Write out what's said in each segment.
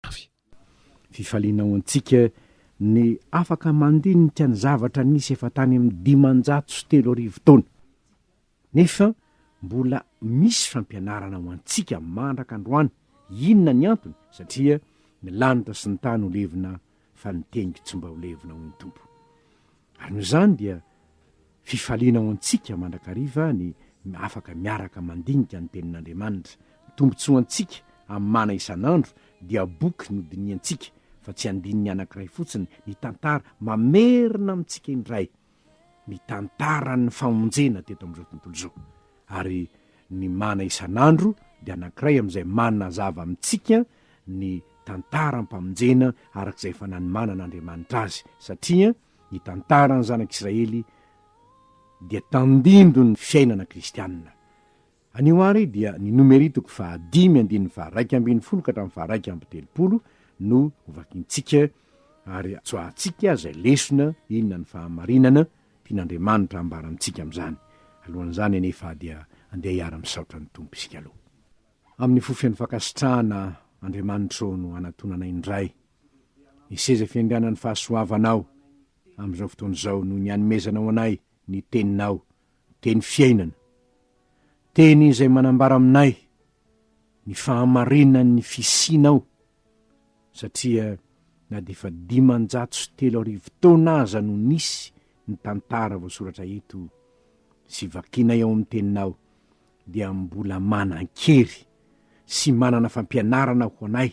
avy. Fifaliana ho antsika ny afaka mandinika ny zavatra nisy efa tany amin'ny dimanjato sy telo arivo taona. Nefa mbola misy fampianarana ho antsika mandraka androany. Inona ny antony? Satria ny lanitra sy ny tany ho levona fa ny teniko tsy mba ho levona, hoy ny Tompo. Ary noho izany dia fifaliana ho antsika mandrakariva ny afaka miaraka mandinika ny Tenin'Andriamanitra. Ny tombontsoa antsika amin'ny mana isan'andro dia boky nodinihantsika fa tsy andininy anankiray fotsiny, ny tantara mamerina amintsika indray ny tantaran'ny famonjena teto amin'izao tontolo izao. Ary ny mana isan'andro dia anankiray amin'izay manazava amintsika ny tantaram-pamonjena arak'izay efa nanomanan'Andriamanitra azy, satria ny tantaran'ny zanak'Israely dia tandindon'ny fiainana kristianina. Anio àry dia ny nomery toko fahadimy andininy faharaika ambin'ny folo ka hatramin'ny faharaika amby telopolo no hovakintsika ary tsoahantsika izay lesona inona ny fahamarinana Tian'Andriamanitra hambara amintsika amin'izany. Alohan'izany anefa dia andeha hiara-misaotra ny Tompo isika aloha. Amin'ny fo feno fankasitrahana, Andriamanitra ô, no anatonanay indray ny seza fiainganan'ny fahasoavanao amin'izao fotoana izao noho ny anomezanao anay ny Teninao, Teny fiainana, Teny izay manambara aminay ny fahamarinan'ny fisianao satria na dia efa dimanjato sy telo arivo taona aza no nisy ny tantara voasoratra eto sy vakinay ao amin'ny teninao dia mbola manan-kery sy manana fampianarana ho anay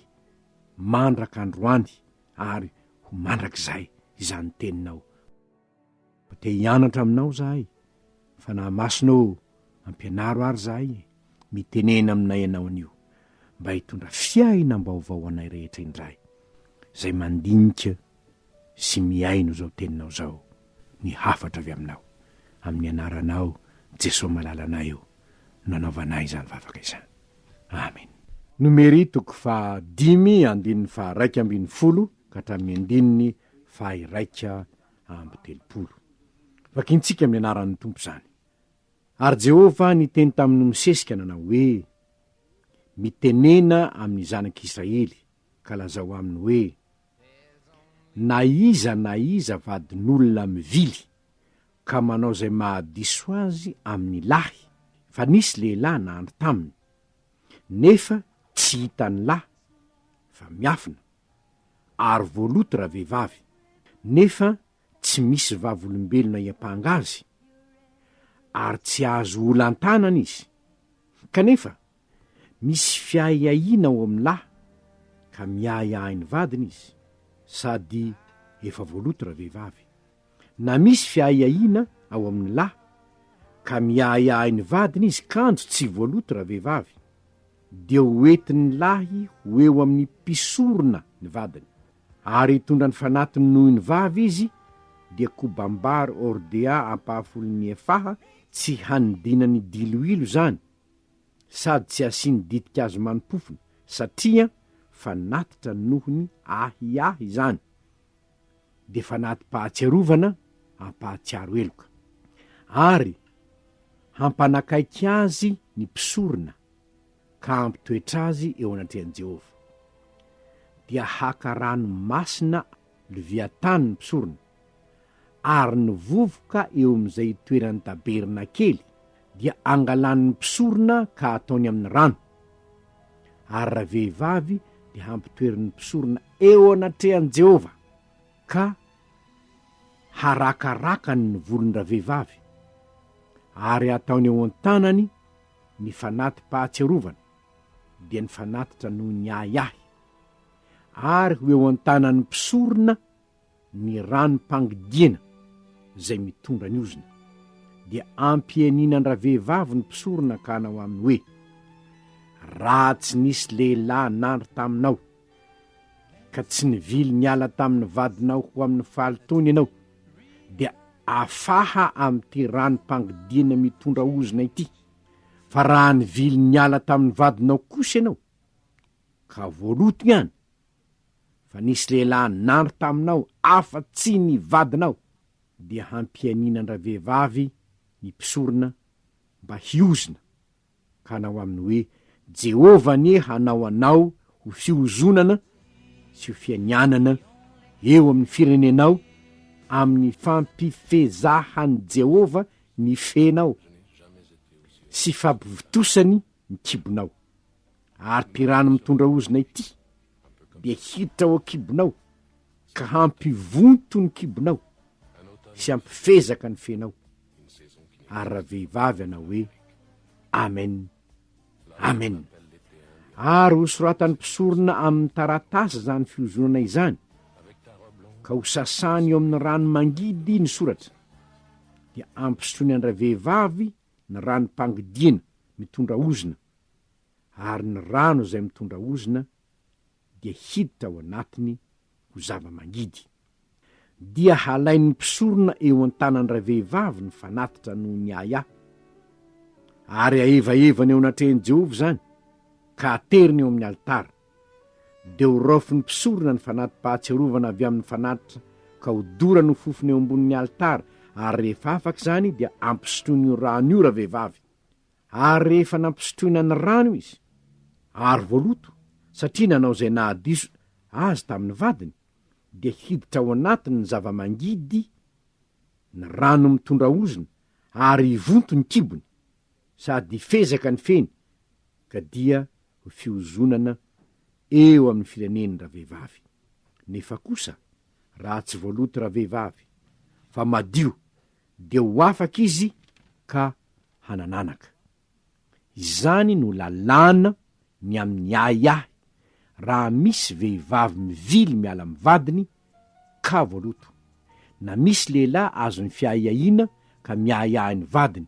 mandraka androany ary ho mandrakizay izany teninao. Mba te hianatra aminao zahay, Fanahy Masina ô, ampianaro ary zahay e, mitenena aminay ianao anio, mba hitondra fiainam-baovao anay rehetra indray, zay mandinika sy mihaino zao teninao zao, ny hafatra avy aminao, amin'ny anaranao Jesoa malalanay ô, no anaovanay izany vavaka izany. Amen. Nomery toko faha dimy andininy faha raika ambin'ny folo ka hatramin'ny andininy faha-iraika amby telopolo. Vakintsika amin'ny anaran'ny Tompo izany. Ary Jehovah niteny tamin'i Mosesy ka nanao hoe, Mitenena amin'ny zanak'Israely, ka lazao aminy hoe, Na iza na iza vadin'olona mivily, ka manao izay mahadiso azy amin'ny lahy, fa nisy lehilahy nandry taminy, nefa tsy hitan'ny lahy, fa miafina, ary voaloto raha vehivavy, nefa tsy misy vavolombelona hiampanga azy, ary tsy azo olantanana izy. Kanefa, misy fiahiahiana ao amin'ny lahy, ka miahiahy ny vadiny izy, sady efa voaloto raha vehivavy. Na misy fiahiahiana ao amin'ny lahy ka miahiahy ny vadiny izy kanjo tsy voaloto ravehivavy, dia ho entin'ny lahy ho eo amin'ny mpisorona ny vadiny, ary hitondra ny fanatiny noho ny vavy izy, dia kobam-bary hordea ampahafolon'ny efaha, tsy hanidinany diloilo izany, sady tsy hasiany ditin-kazo manim-pofona, satria fanatitra noho ny ahiahy izany, dia fanati-pahatsiarovana hampahatsiaro heloka, ary hampanakaiky azy ny mpisorona ka hampitoetra azy eo anatrehan'i Jehovah. Dia haka rano masina Leviatana ny mpisorona, ary ny vovoka eo amin'izay itoeran'ny tabernakely dia angalany ny mpisorona ka ataony amin'ny rano, ary ravehivavy dia hampitoeriny ny mpisorona eo anatrehan'i Jehovah, ka harakarakany ny volon-dravehivavy, ary hataony eo an-tanany ny fanati-pahatsiarovana, dia ny fanatitra noho ny ahiahy, ary ho eo an-tanan'ny mpisorona ny ranom-pangidiana izay mitondra ny ozona, dia ampianinan-dravehivavy ny mpisorona ka hanao aminy hoe, Raha tsy nisy lehilahy nandry taminao, ka tsy nivily niala tamin'ny vadinao ho amin'ny faly toiny ianao, dia afaha amin'ity ranom-pangidiana mitondra ozona ity, fa raha nivily niala tamin'ny vadinao kosa ianao, ka voaloto ihany, fa nisy lehilahy nandry taminao afa tsy ny vadinao dia hampianiana an-dravehivavy ny mpisorona mba hiozona ka hanao aminy hoe, Jehovah anie hanao anao ho fiozonana sy ho fianianana eo amin'ny firenenao amin'ny fampifezahan'i Jehovah ny fenao sy fampivotosany ny kibonao. Ary ty rano mitondra ozona ity dia hiditra ao an-kibonao ka hampivonto ny kibonao sy hampifezaka ny fenao. Ary raha vehivavy anao hoe, Amen. Amen. Ary ho soratan'ny mpisorona amin'ny taratasy izany fiozonana izany, ka ho sasany eo amin'ny rano mangidy ny soratra, dia ampisotroiny an-dravehivavy ny ranom-pangidiana mitondra ozona, ary ny rano izay mitondra ozona dia hiditra ao anatiny ho zava-mangidy. Dia halain'ny mpisorona eo an-tanan'ilay vehivavy ny fanatitra noho ny ahiahy, ary hahevaevany eo anatrehan'i Jehovah izany, ka hateriny eo amin'ny alitara. Dia horaofin'ny mpisorona ny fanati-pahatsiarovana avy amin'ny fanatitra ka hodorany ho fofona eo ambonin'ny alitara, ary rehefa afaka izany dia ampisotroiny io rano io ravehivavy. Ary rehefa nampisotroina ny rano izy, ary voaloto, satria nanao izay nahadiso Azy tamin'ny vadiny, dia hiditra ao anatiny ny zava-mangidy, ny rano mitondra ozona, ary hivonto ny kibony, sady hifezaka ny feny, ka dia ho fiozonana eo amin'ny fireneny ravehivavy. Nefa kosa, raha tsy voaloto ravehivavy, fa madio, dia ho afaka izy ka hanananaka. Izany no lalàna ny amin'ny ahiahy raha misy vehivavy mivily miala amin'ny vadiny ka voaloto, na misy lehilahy azon'ny fiahiahiana ka miahiahy ny vadiny,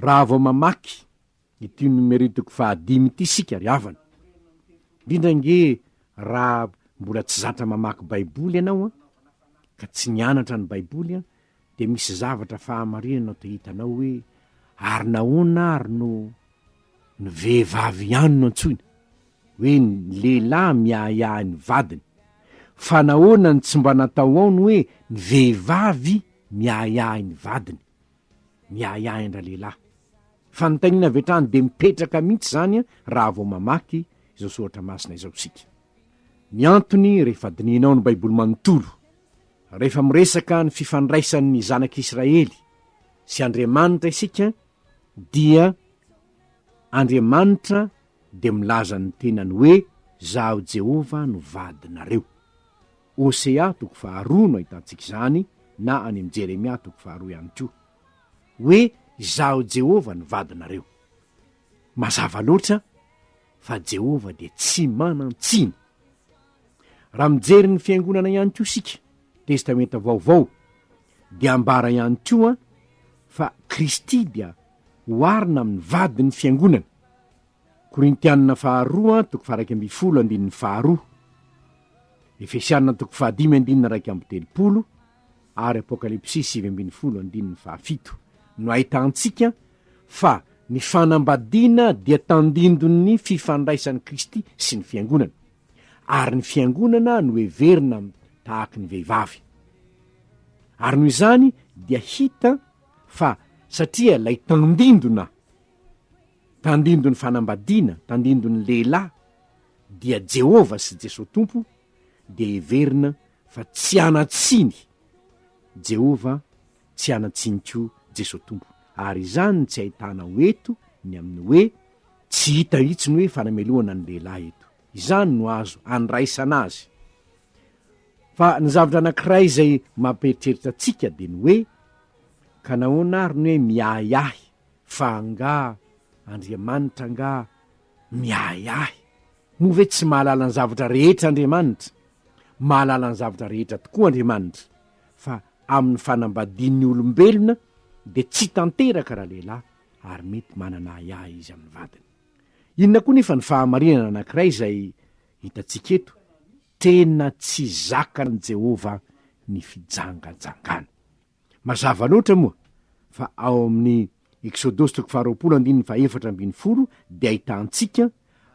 Raha vao mamaky ity numeritiko fahadimy ity isika ry havana, indrindra ange raha mbola tsy zatra mamaky Baiboly ianao ka tsy nianatra ny Baiboly, dia misy zavatra fahamarinana te hitanao hoe ary nahoana ary no ny vehivavy ihany no antsoina hoe ny lehilahy miahiahy ny vadiny fa nahoana ny tsy mba natao ao ny hoe ny vehivavy miahiahy ny vadiny miahiahy an-dralehilahy fa ny tainina avy hatrany dia mipetraka mihitsy izany a raha vao mamaky izao soratra masina izao isika ny antony rehefa dinihinao ny baiboly manontolo Rehefa miresaka ny fifandraisan'ny zanak'Israely sy Andriamanitra isika dia Andriamanitra dia milaza ny tenany hoe Zaho Jehovah no vadinareo. Hosea toko faharoa no ahitantsika izany na any amin'ny Jeremia toko faharoa ihany koa. Hoe Izaho Jehovah no vadinareo. Mazava loatra fa Jehovah dia tsy manan-tsiny. Raha mijery ny fiangonana ihany koa isika, Testamenta Vaovao, dia ambara ihany koa fa Kristy dia oharina amin'ny vadin'ny fiangonana, Korintianina faharoa toko faharaika ambin'ny folo andininy faharoa, Efesianina toko fahadimy andininy iraika amby telopolo ary Apokalypsy sivy ambin'ny folo andininy fahafito no ahitantsika fa ny fanambadiana dia tandindon'ny fifandraisan'i Kristy sy ny fiangonana. ary ny fiangonana no heverina tahaky ny vehivavy. Ary noho izany dia hita fa satria lay tandindona, tandindon'ny fanambadiana, tandindon'ny lehilahy dia Jehovah sy Jesoa Tompo dia heverina fa tsy hanan-tsiny Jehovah tsy hanan-tsiny koa Jesoa Tompo, ary izany no tsy ahitanao eto ny amin'ny hoe tsy hita mihitsy ny hoe fanamelohana ny lehilahy eto. Izany no azo andraisana azy. Fa ny zavatra anankiray izay mampieritreritra antsika dia ny hoe, ka nahoana ary ny hoe miahiahy, fa angaha Andriamanitra angaha miahiahy? Moa ve tsy mahalala ny zavatra rehetra Andriamanitra? Mahalala ny zavatra rehetra tokoa Andriamanitra. fa amin'ny fanambadian'ny olombelona dia tsy tanteraka raha lehilahy ary mety manana ahiahy izy amin'ny vadiny. Inona koa nefa ny fahamarinana anankiray izay hitantsika eto? Tena tsy zakan'i Jehovah ny fijangajangana. Mazava loatra moa fa ao amin'ny Eksodosy toko faharoapolo andininy fahefatra ambin'ny folo dia ahitantsika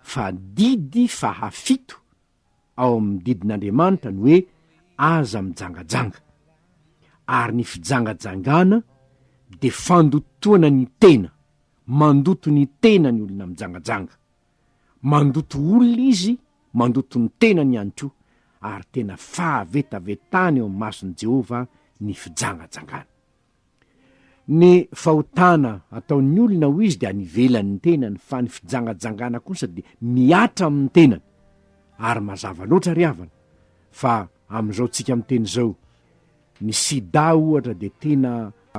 fa didy fahafito ao amin'ny didin'Andriamanitra ny hoe aza mijangajanga. Ary ny fijangajangana dia fandotoana ny tena, mandoto ny tena ny olona mijangajanga. Mandoto olona izy, mandoto ny tenany ihany koa, ary tena fahavetavetana eo amin'ny mason'i Jehovah ny fijangajangana. Ny fahotana ataon'ny olona hoy izy dia any ivelan'ny tenany fa ny fijangajangana kosa dia mihatra amin'ny tenany. Ary mazava loatra ry havana fa amin'izao tsika miteny izao, ny sida ohatra dia tena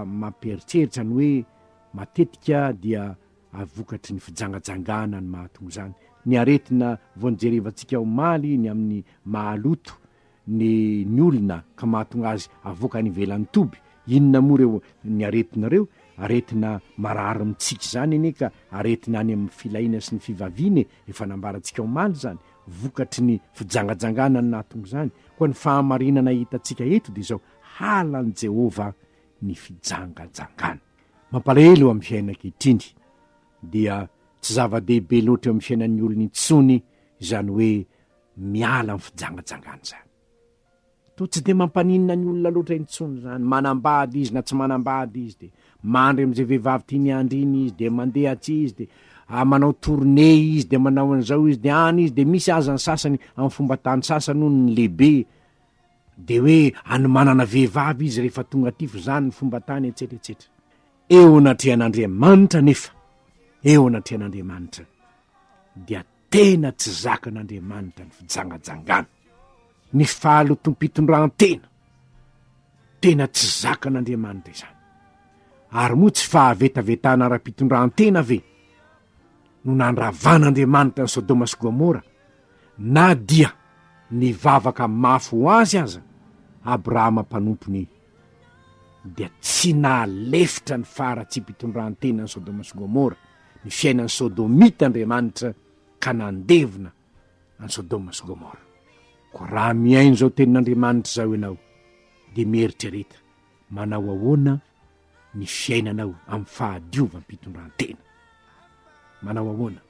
mampieritreritra ny hoe matetika dia vokatry ny fijangajangana ny mahatonga izany. Ny aretina vao nijerevantsika omaly ny amin'ny mahaloto ny ny olona ka mahatonga azy avoaka any ivelan'ny toby, inona moa ireo ny aretina ireo? aretina marary mitsiky izany anie ka aretina any amin'ny filahiana sy ny fivaviana e, efa nambarantsika omaly izany, vokatry ny fijangajangana no nahatonga izany, koa ny fahamarinana hitantsika eto dia izao, halan'i Jehovah ny fijangajangana. Mampalahelo eo amin'ny fiainana ankehitriny dia tsy zava-dehibe loatra eo amin'ny fiainan'ny olona intsony izany hoe miala amin'ny fijangajangana izany. Toa tsy dia mampaninona ny olona loatra intsony izany, manambady izy na tsy manambady izy dia mandry amin'izay vehivavy tiany handry iny izy dia mandeha atsy izy dia ah, manao tournée izy dia manao an'izao izy dia any izy dia misy aza ny sasany amin'ny fomba tany sasany hono ny lehibe dia hoe any manana vehivavy izy rehefa tonga aty fa izany ny fomba tany etsetra etsetra. Eo anatrehan'Andriamanitra anefa, eo anatrehan'Andriamanitra dia Tena tsy zakan'Andriamanitra ny fijangajangana, ny fahalotoam-pitondrantena. Tena tsy zakan'Andriamanitra izany. Ary moa tsy fahavetavetana ara-pitondrantena ve no nandravan'Andriamanitra an'i Sodoma sy Gomora, na dia nivavaka mafy ho azy aza Abrahama mpanompony? dia tsy nahalefitra ny faharatsiam-pitondran-tenan'i Sodoma sy Gomora, ny fiainan'ny Sodomita Andriamanitra ka nandevina an'i Sodoma sy Gomora. Koa raha mihaino izao tenin'Andriamanitra izao ianao, dia mieritrereta manao ahoana ny fiainanao amin'ny fahadiovam-pitondran-tena. Manao ahoana?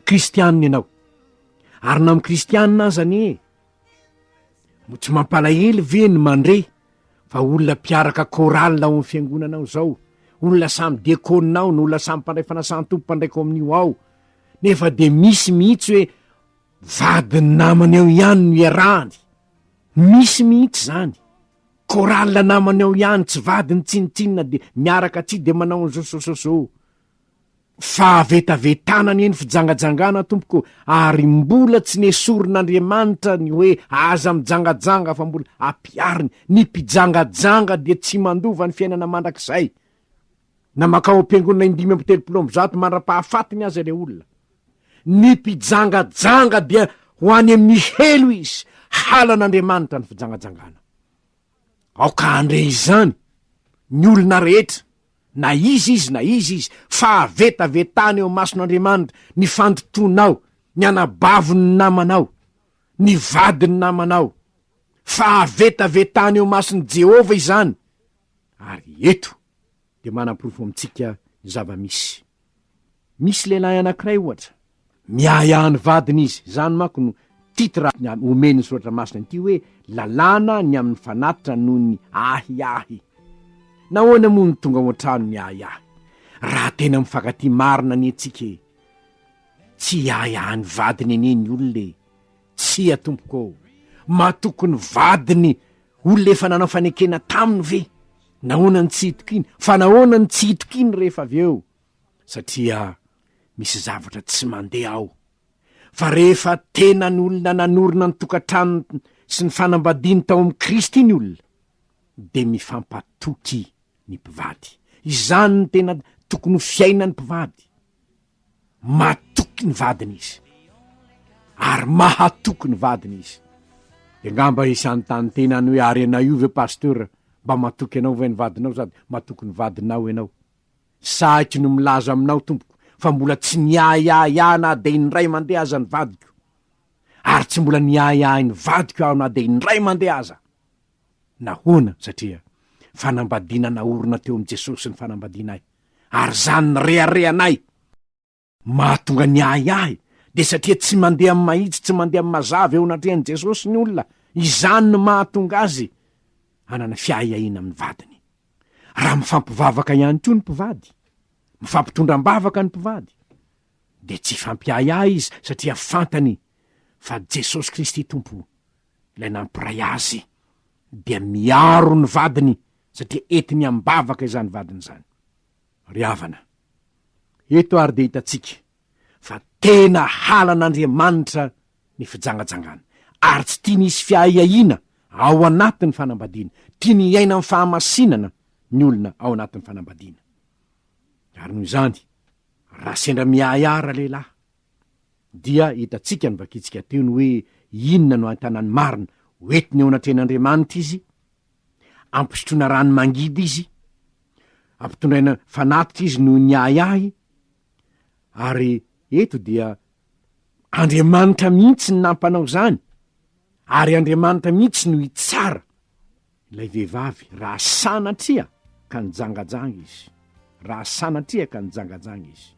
Kristianina ianao, ary na amin'ny Kristianina aza anie No tsy mampalahelo ve ny mandre fa olona mpiaraka chorale ao amin'ny fiangonana ao zao, olona samy diakona ao, ny olona samy mpandray fanasan-tompo, mpandray kominio ao, nefa de misy mihitsy hoe vadin'ny namany ao ihany no iarahany, misy mihitsy zany, chorale namany ao ihany, tsy vadiny tsinotsinona de miaraka atsy de manao an'zao, zao, zao, zao. Fahavetavetana anie ny fijangajangana tompoko ary mbola tsy nesorin'Andriamanitra ny hoe aza mijangajanga fa mbola ampihariny, ny mpijangajanga dia tsy mandova ny fiainana mandrakizay na makao ampiangonana indimy amby telopolo amby zato mandra-pahafatiny aza ilay olona. Ny mpijangajanga dia ho any amin'ny helo izy, halan'Andriamanitra ny fijangajangana. Aoka handre izany ny olona rehetra, na iza izy na iza izy, fa avetavetana eo imason'Andriamanitra ny fandotoanao, ny anabavin'ny namanao, ny vadin'ny namanao, fa avetavetana eo imason'i Jehovah izany, ary eto dia manaporofo amintsika ny zava-misy. Misy lehilahy anankiray ohatra, miahiahy ny vadiny izy, izany manko no titre omen'ny Soratra Masina an'ity hoe Lalàna ny amin'ny fanatitra noho ny ahiahy. Nahoana moa no tonga ao an-trano ny ahiahy, raha tena mifankatia marina anie tsika e? Tsy hiahiahy ny vadiny anie ny olona e! Tsia tompoko ô! Matoky ny vadiny Olona efa nanao fanekena taminy ve? Nahoana no tsy hitokiany? Fa nahoana no tsy hitokiany rehefa avy eo? Satria misy zavatra tsy mandeha ao. Fa rehefa tena ny olona nanorina ny tokantranony sy ny fanambadiany tao amin'i Kristy ny olona, dia mifampatoky ny mpivady. Izany no tena tokony ho fiainan'ny mpivady. matoky ny vadiny izy ary mahatoky ny vadiny izy de ngamba izy hanontany tenany hoe ary ianao io ve pasteur mba matoky anao ve ny vadinao sady matoky ny vadinao ianao sahiko ny milaza aminao tompoko fa mbola tsy niahiahy ahy na de indray mandeha aza ny vadiko ary tsy mbola niahiahy ny vadiko aho na de indray mandeha aza nahoana satria fanambadiana naorina teo amin'i Jesosy ny fanambadiana ahy ary izany nireharehanay mahatonga ny ahiahy dia satria tsy mandeha amin'ny mahitsy tsy mandeha amin'ny mazava eo anatrehan'i Jesosy ny olona, izany no mahatonga azy hanana fiahiahiana amin'ny vadiny. Raha mifampivavaka ihany koa ny mpivady, mifampitondra am-bavaka ny mpivady, dia tsy hifampiahiahy izy satria fantany fa Jesosy Kristy Tompo Ilay nampiray azy dia miaro ny vadiny satria entiny am-bavaka izany vadiny izany. Ry havana, eto ary dia hitantsika fa tena halan'Andriamanitra ny fijangajangana, ary tsy tiany hisy fiahiahiana ao anatin'ny fanambadiana, tiany hiaina amin'ny fahamasinana ny olona ao anatin'ny fanambadiana. Ary noho izany, raha sendra miahiahy ralehilahy, dia hitantsika ny vakintsika teo ny hoe inona no antanany marina, hoentiny eo anatrehan'Andriamanitra izy, ampisotroina rano mangidy izy, ampitondraina fanatitra izy noho ny ahiahy, ary eto dia Andriamanitra mihitsy ny nampanao izany, ary Andriamanitra mihitsy no hitsara. Ilay vehivavy, raha sanatria ka nijangajanga izy, raha sanatria ka nijangajanga izy.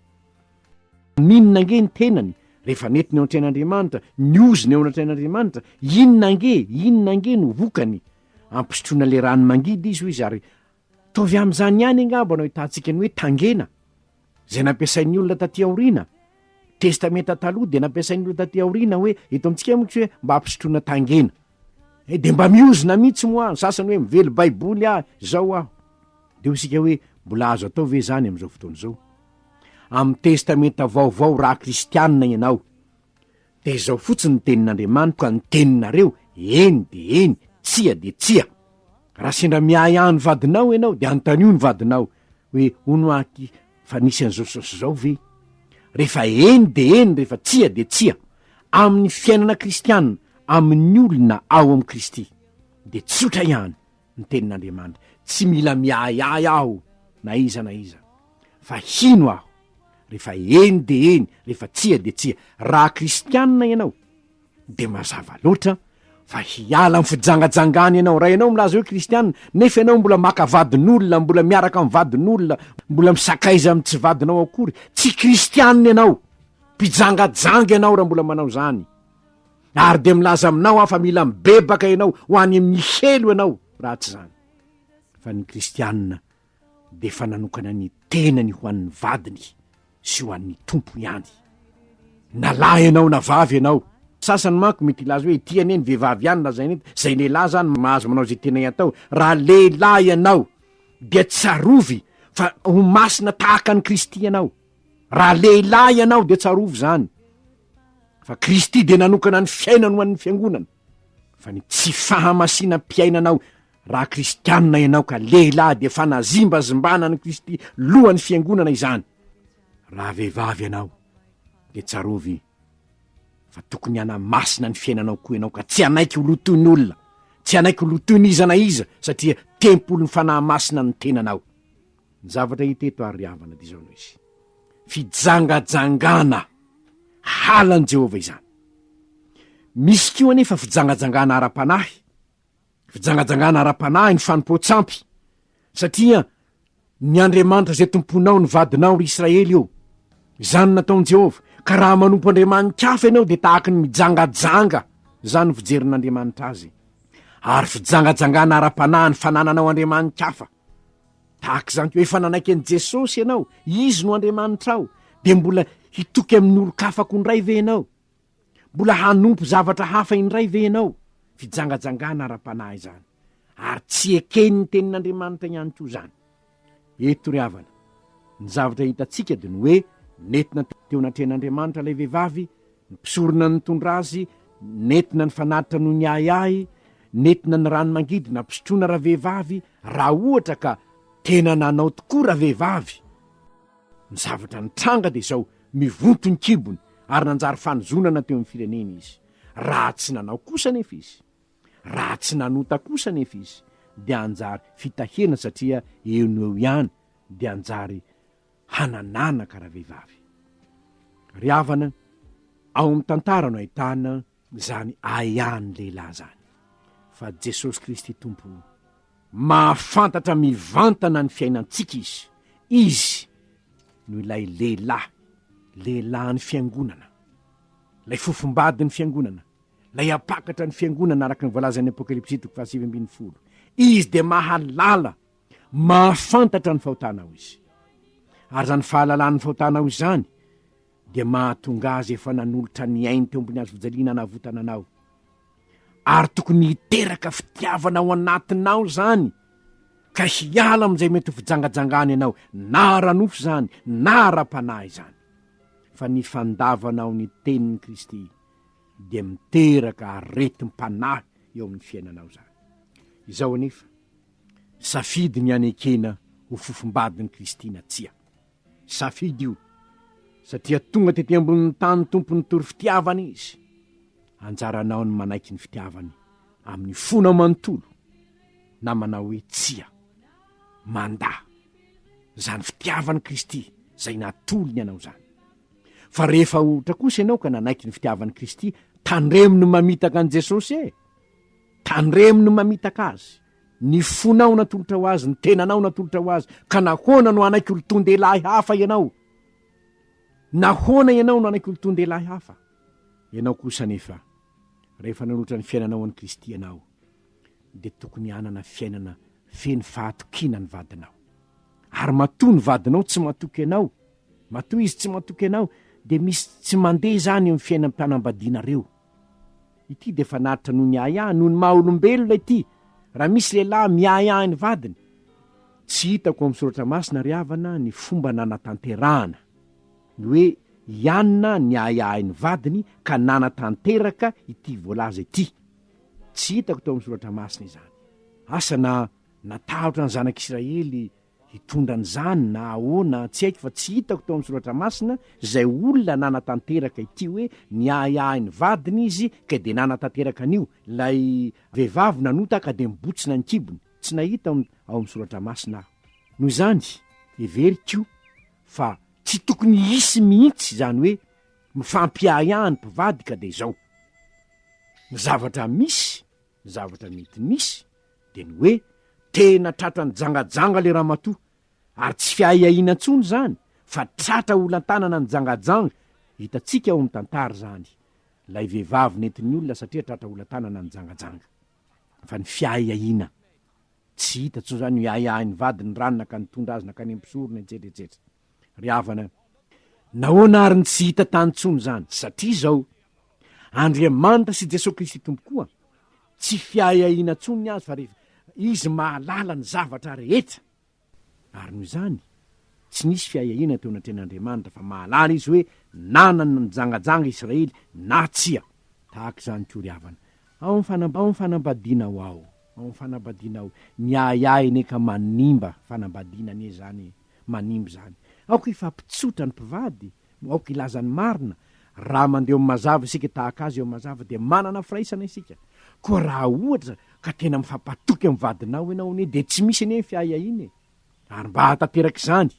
Maninona ange ny tenany rehefa nety ny eo an-train'Andriamanitra, ny ozony eo an-train'Andriamanitra, inona ange, inona ange no vokany? Ampisotroina ilay rano mangidy izy hoy izy ary, ataovy amin'izany ihany angamba no ahitantsika ny hoe tangena, izay nampiasain'ny olona taty aoriana, testamenta taloha dia nampiasain'ny olona taty aoriana hoe eto amintsika moa tsy hoe mba hampisotroana tangena e dia mba miozona mihitsy moa ny sasany hoe mively baiboly ah izao aho dia ho isika hoe mbola azo atao ve izany amin'izao fotoana izao amin'ny testamenta vaovao raha kristianina ianao Dia izao fotsiny ny tenin'Andriamanitro ka ny teninareo, eny dia eny, tsia dia tsia. Raha sendra miahy ahy ny vadinao ianao, dia anontanio ny vadinao hoe, hono aky fa nisy an'izao sy izao ve? Rehefa eny dia eny, rehefa tsia dia tsia. Amin'ny fiainana kristiana, amin'ny olona ao amin'i Kristy, dia tsotra ihany. ny tenin'Andriamanitra, tsy mila miahiahy aho na iza na iza, fa hino aho rehefa eny dia eny, rehefa tsia dia tsia. Raha kristianina ianao, dia mazava loatra fa hiala amin'ny fijangajangana ianao. Raha ianao milaza hoe kristianina, nefa ianao mbola maka vadin'olona, mbola miaraka amin'ny vadin'olona, mbola misakaiza amin'ny tsy vadinao akory, tsy kristianina ianao, mpijangajanga ianao raha mbola manao izany. ary dia milaza aminao aho fa mila mibebaka ianao ho any amin'ny helo ianao raha tsy izany fa ny kristianina dia efa nanokana ny tenany ho an'ny vadiny sy ho an'ny tompo ihany na lahy ianao na vavy ianao sasany manko mety hilaza hoe ity anie ny vehivavy ihany lazaina eto izay lehilahy zany mahazo manao izay tena iatao raha lehilahy ianao dia tsarovy fa ho masina tahaka an'i kristy ianao Raha lehilahy ianao dia tsarovy izany fa Kristy dia nanokana ny fiainany ho an'ny fiangonana, fa ny tsy fahamasinam-piainanao raha kristianina ianao ka lehilahy dia fanazimbazimbana an'i Kristy lohan'ny fiangonana izany. Raha vehivavy ianao dia tsarovy fa tokony hanamasina ny fiainanao koa ianao ka tsy hanaiky ho lotoin'olona, tsy hanaiky ho lotoin'iza na iza satria tempolin'ny Fanahy Masina ny tenanao. Ny zavatra hita eto ary ry havana dia izao no izy, fijangajangana halan'i Jehovah izany. Misy koa anefa fijangajangana ara-panahy, fijangajangana ara-panahy ny fanompoan-tsampy, satria ny Andriamanitra izay tomponao no vadinao, ry Israely ô. Izany no nataon'i Jehovah, ka raha manompo andriamani-kafa ianao dia tahaka ny mijangajanga, izany no fijerin'Andriamanitra azy. Ary fijangajangana ara-panahy ny fanananao andriamani-kafa, Tahaka izany koa, efa nanaiky an'i Jesosy ianao, Izy no Andriamanitrao, dia mbola hitoky amin'ny olon-kafa koa indray ve ianao? Mbola hanompo zavatra hafa indray ve ianao? Fijangajangana ara-panahy izany, ary tsy eken'ny Tenin'Andriamanitra ihany koa izany. Eto ry havana, ny zavatra hitantsika dia ny hoe nentina teo anatrehan'Andriamanitra ilay vehivavy Ny mpisorona nitondra azy nentina nifanatitra noho ny ahiahy, nentina ny rano mangidy nampisotroana ravehivavy, raha ohatra ka tena nanao tokoa ravehivavy. Ny zavatra nitranga dia izao, mivonto ny kibony ary nanjary fanozonana teo amin'ny firenena izy. Raha tsy nanao kosa anefa izy, raha tsy nanota kosa anefa izy, dia hanjary fitahiana satria eo no eo ihany dia hanjary hanananaka ravehivavy. Ry havana, ao amin'ny tantara no ahitana izany ahiahin'ny lehilahy izany. Fa Jesosy Kristy Tompo, mahafantatra mivantana ny fiainantsika Izy. Izy no ilay lehilahy, lehilahin'ny Fiangonana, ilay fofombadin'ny Fiangonana, ilay hampakatra ny Fiangonana araka ny voalazan'ny Apokalypsy toko fahasivy ambin'ny folo. Izy dia mahalala Mahafantatra ny fahotanao izy. Ary izany fahalalany ny fahotanao izany dia mahatonga azy efa nanolotra ny ainy teo ambony hazo fijaliana hanavotana anao. Ary tokony hiteraka fitiavana ao anatinao izany ka hiala amin'izay mety ho fijangajangana ianao, na ara-nofo izany, na ara-panahy izany. Fa ny fandavanao ny tenin'i Kristy dia miteraka aretim-panahy eo amin'ny fiainanao izany. Izao anefa, Safidy ny hanekena ho fofombadin'i Kristy na tsia. Safidy io, satria tonga tety ambonin'ny tany Tompo nitory fitiavana Izy. Anjaranao ny manaiky ny fitiavany amin'ny fonao manontolo na manao hoe tsia. Mandà izany fitiavan'i Kristy izay natolony anao izany. Fa rehefa ohatra kosa ianao ka nanaiky ny fitiavan'i Kristy, tandremo ny mamitaka an'i Jesosy e! Tandremo ny mamitaka azy, ny fonao natolotra ho azy, ny tenanao natolotra ho azy, ka nahoana no hanaiky olon-toan-dehilahy hafa ianao? Nahoana ianao no hanaiky olon-toan-dehilahy hafa? Ianao kosa anefa, rehefa nanolotra ny fiainanao ho an'i Kristy ianao, dia tokony hanana fiainana feno fahatokiana ny vadinao. Ary matoa ny vadinao tsy matoky anao, matoa izy tsy matoky anao, dia misy tsy mandeha izany eo amin'ny fiainam-pianambadianareo. Ity dia fanatitra noho ny ahiahy noho ny maha olombelona ity, raha misy lehilahy miahiahy ny vadiny. Tsy hitako ao amin'ny soratra masina ry havana ny fomba nanatanterahana ny hoe i Anna niahiahy ny vadiny ka nanatanteraka ity voalaza ity. Tsy hitako tao amin'ny soratra masina izany. Asa na natahotra ny zanak'Isiraely Hitondra an'izany na ahoana tsy haiko fa tsy hitako tao amin'ny soratra masina izay olona nanatanteraka ity hoe niahiahy ny vadiny izy kay dia nanatanteraka an'io, ilay vehivavy nanota ka dia mibotsina ny kibony, tsy nahita ao amin'ny soratra masina aho. Noho izany, heveriko fa tsy tokony hisy mihitsy izany hoe mifampiahiahy ny mpivady ka dia izao ny zavatra misy. Ny zavatra mety misy dia ny hoe tena tratran'ny jangajanga le ramatoa, ary tsy fiahiahiana intsony zany fa tratra olan-tanana ny jangajanga, hitantsika ao amin'ny tantara zany lay vehivavy nentin'ny olona satria tratra olan-tanana ny jangajanga. Fa ny fiahiahiana, tsy hita intsony zany io hiahiahin'ny vadiny ny ranona ka nitondra azy nankany amin'ny mpisorona etsetra etsetra. Ry havana, nahoana ary no tsy hita tany intsony izany? Satria izao, Andriamanitra sy Jesoa Kristy Tompo koa, tsy fiahiahiana intsony ny azy fa rehefa Izy mahalala ny zavatra rehetra. Ary noho izany, tsy nisy fiahiahiana teo anatrehan'Andriamanitra fa mahalala Izy hoe nanana ny mijangajanga i Israely na tsia. Tahaka izany koa, ry havana, ao amin'ny fanambadianao ao, ao amin'ny fanambadianao, ny ahiahy anie ka manimba fanambadiana anie izany e! manimba izany. Aoka hifampitsotra ny mpivady, aoka hilaza ny marina. Raha mandeha eo amin'ny mazava isika tahaka Azy eo amin'ny mazava dia manana firaisana isika. Koa raha ohatra ka tena mifampatoky amin'ny vadinao ianao anie dia tsy misy anie ny fiahiahiana e! Ary mba hahatanteraka izany,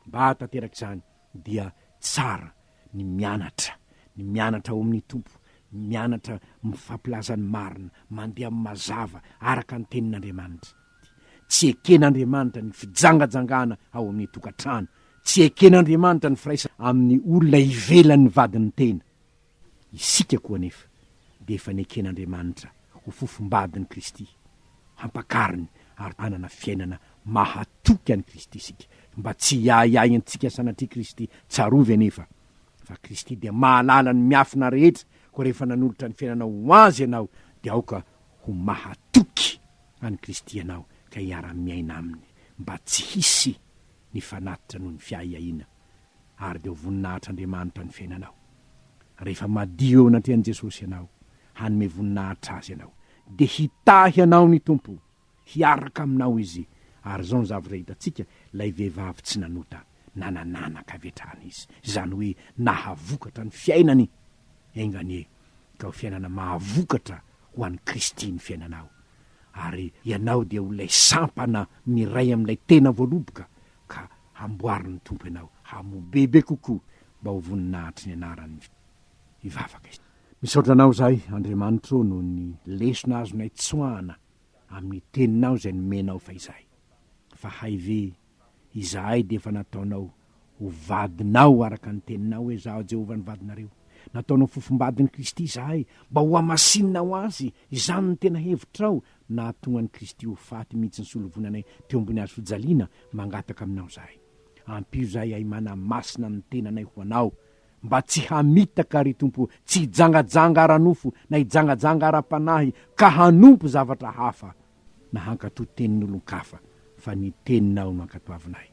mba hahatanteraka izany dia tsara ny mianatra, ny mianatra ao amin'ny Tompo, mianatra mifampilaza ny marina, mandeha amin'ny mazava araka ny Tenin'Andriamanitra. Tsy eken'Andriamanitra ny fijangajangana ao amin'ny tokantrano. Tsy eken'Andriamanitra ny firaisana amin'ny olona ivelan'ny vadin'ny tena. Isika koa anefa dia efa neken'Andriamanitra ho fofom-badin'i Kristy, hampakariny ary hanana fiainana mahatoky an'i Kristy isika. Mba tsy hiahiahintsika sanatria Kristy. Tsarovy anefa fa Kristy dia mahalala ny miafina rehetra, koa rehefa nanolotra ny fiainanao ho Azy ianao dia aoka ho mahatoky. an'i Kristy ianao ka hiara-miaina Aminy mba tsy hisy ny fanatitra noho ny fiahiahiana, ary dia ho voninahitr'Andriamanitra ny fiainanao. Rehefa madio eo anatrehan'i Jesosy ianao, hanome voninahitra Azy ianao, dia hitahy anao ny Tompo, hiaraka aminao Izy, ary izao ny zavatra hitantsika, ilay vehivavy tsy nanota, na nananaka avy hatrany izy, izany hoe nahavokatra ny fiainany, enga anie ka ho fiainana mahavokatra ho an'i Kristy ny fiainanao, ary ianao dia ho ilay sampana miray amin'ilay tena voaloboka, ka hamboarin'ny Tompo ianao hamoa bebe kokoa mba ho voninahitr'i ny anarany. Hivavaka isika. Misaotra Anao izahay, Andriamanitra ô, noho ny lesona azonay tsoahana amin'ny Teninao izay nomenao fahizay. Fa hay ve Izahay dia efa nataonao ho vadinao araka ny teninao hoe, Izaho Jehovah no vadinareo. Nataonao fofombadin'i Kristy izahay, mba hohamasininaho azy. Izany no tena hevitrao, nahatonga an'i Kristy ho faty mihitsy nisolovonanay teo ambony hazo fijaliana, mangataka aminao izahay, Ampio izahay hiahy manamasina ny tenanay ho anao, mba tsy hamitaka, ry Tompo, tsy hijangajanga ara-nofo, na hijangajanga ara-panahy, ka hanompo zavatra hafa, na hankatò tenin'olon-kafa, fa ny Teninao no ankatoavinay.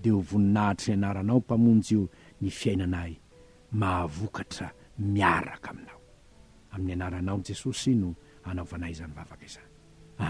Dia ho voninahitry ny Anaranao, Mpamonjy o, ny fiainanay, mahavokatra miaraka Aminao. Amin'ny Anaranao, Jesosy, no anaovanay izany vavaka izany. Amena.